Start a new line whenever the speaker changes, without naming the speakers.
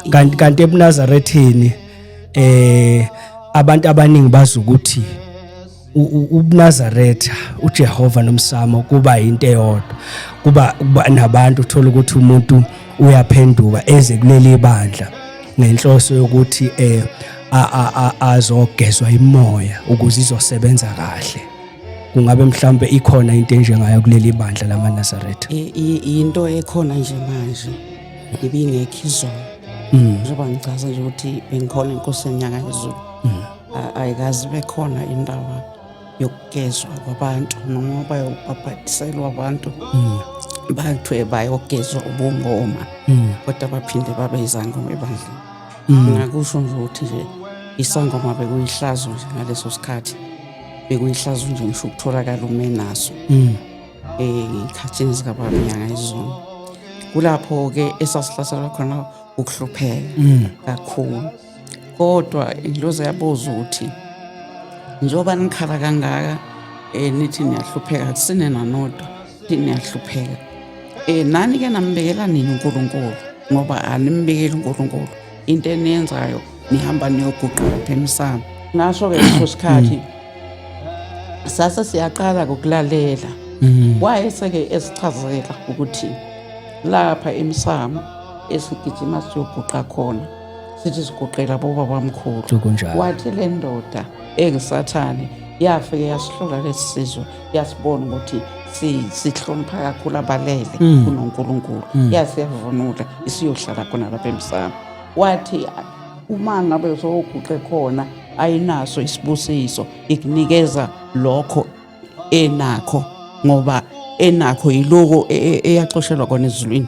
kanti kanti ebuNazarethini eh abantu abaningi bazi ukuthi ubuNazaretha uJehova nomsamo kuba into eyodwa kuba nabantu uthola ukuthi umuntu uyaphenduka eze kuleli bandla ngenhloso yokuthi eh azogezwa imoya ukuze izosebenza kahle kungabe mhlambe ikhona into enjengayo kuleli bandla lamaNazaretha into
ekhona nje manje ibingekho izolo mm. njengoba ngichaza nje ukuthi bengikhona inkosi yenyanga yezulu mm. ayikazi bekhona indaba yokugezwa kwabantu noma bayobhabhadiselwa abantu mm. bathiwe bayogezwa ubungoma kodwa baphinde babe izangoma ebandleni ngakusho nje ukuthi nje isangoma bekuyihlazo nje ngaleso sikhathi bekuyihlazo nje ngisho ukutholakala umenaso ey'khathini zikababa inyanga izulu kulapho-ke esasihlaselwa khona ukuhlupheka mm. kakhulu kodwa ingilozi yabuza ukuthi njengoba nikhala kangaka um nithi niyahlupheka kusine nanodwa thi niyahlupheka um nani-ke nambekela nini unkulunkulu ngoba animbekeli unkulunkulu into eniyenzayo nihamba niyoguquka apha emsamo ngasho-ke leso mm. sikhathi mm. sase siyaqala kokulalela mm. wayese-ke esichazela ukuthi lapha emsamo esigijima siyoguqa khona sithi siguqela bobabamkhulu wathi le ndoda engisathane yafike yasihlula lesi sizwe uyasibona ukuthi sihlonipha kakhulu abalele mm. kunonkulunkulu mm. yasiyavunula isiyohlala khona lapha emsamo wathi uma ngabe soguqe khona ayinaso isibusiso ikunikeza lokho enakho ngoba enakho yiloko e, e, eyaxoshelwa kona ezulwini